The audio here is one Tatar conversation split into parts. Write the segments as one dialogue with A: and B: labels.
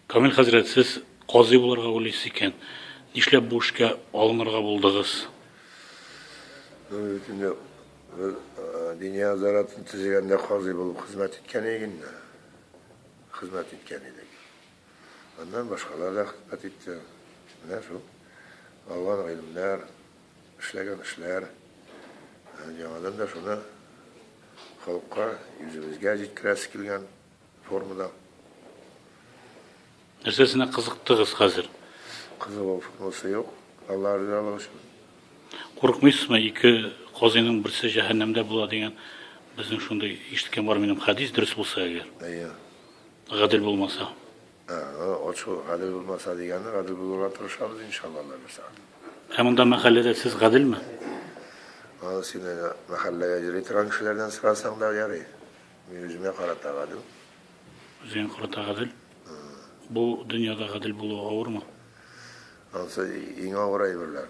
A: Камил хәзрәт, сез казый булырга уйлыйсыз икән, нишләп бу эшкә алынырга булдыгыз? Бүген
B: инде бер диния азаратын төзегәндә казый булып хезмәт иткән идек инде. Хезмәт иткән идек. Аннан башкалар да хезмәт итте. Менә шул алган гыйлемнәр, эшләгән эшләр. Яңадан да шуны халыкка, үзебезгә җиткерәсе килгән. Формада.
A: Нәрсәсенә кызыктыгыз хәзер? Кызыгу
B: формасы юк. Аллаһ ризалыгы өчен. Курыкмыйсызмы,
A: ике казыйның берсе җәһәннәмдә була дигән безнең шундый ишеткән бар минем хәдис дөрес булса әгәр. Әйе.
B: Гадел
A: булмаса. Ачу
B: гадел булмаса дигәнне гадел булырга тырышабыз иншалла Алла бирса. Ә монда
A: мәхәлләдә сез гаделме?
B: Аны син мәхәлләгә йөри торган кешеләрдән сорасаң да ярый. Мин үземә карата гадел. Үзеңә
A: карата гадел? Бу дөньяда гадел булу авырмы? Ансы
B: иң авыр әйберләр.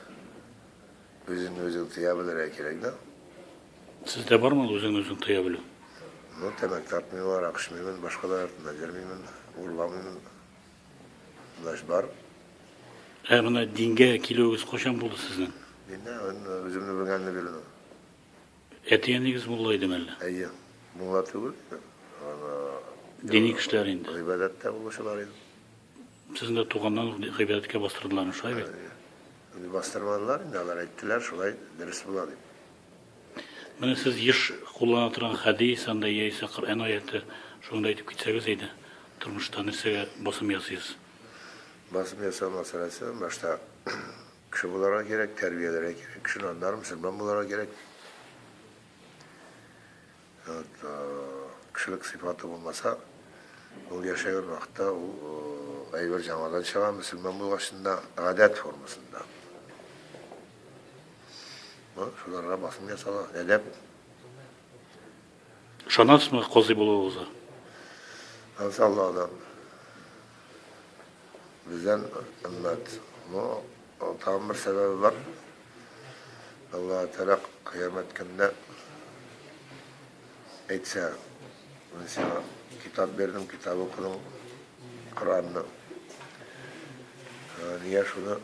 B: Үзен үзең тыя белергә кирәк да. Сездә
A: бармы үзен үзең тыя белү? Ну, тәмәк
B: тартмыйм, арак эчмимен, башкалар артында йөрмимен, урламыйм. Значит, бар.
A: Ә менә дингә килүегез кайчан булды сезнең? Динне,
B: үземне белгәнне белү.
A: Әти-әнигез мулла идеме әллә? Әйе. Мулла
B: түгел идем.
A: Дини кешеләр инде. Гыйбадәттә булучылар
B: иде. Сезне дә
A: туганнан ук гыйбадәткә бастырдылармы, шулай бит? Инде бастырмадылар
B: инде, алар әйттеләр, шулай дөрес була дип.
A: Менә сез еш куллана торган хәдис анда яисә Коръән аяте шуны да әйтеп китсәгез иде. Тормышта нәрсәгә басым ясыйсыз? Басым
B: ясау мәсьәләсе башта Кеше буларга кирәк, тәрбияләргә кирәк, кеше наднар, мөселман буларга кирәк. Вот, кешелек сыйфаты булмаса, ул яшәгән вакытта ул әйбер җамадан чыга, мөселман булгачында, гадәт формасында. Шуларга басым ясала, әдәп.
A: Ышанасызмы казый булуыгызга? Иншалла да.
B: Бездән өммәт. Ну, тагын бер сәбәбе бар. Алла Тәгалә кыямәт көнендә әйтсә, мин сиңа китап бирдем, китап укыдың, Коранны. Ә, Нигә шуны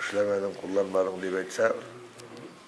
B: эшләмәдең, кулланмадың дип әйтсә,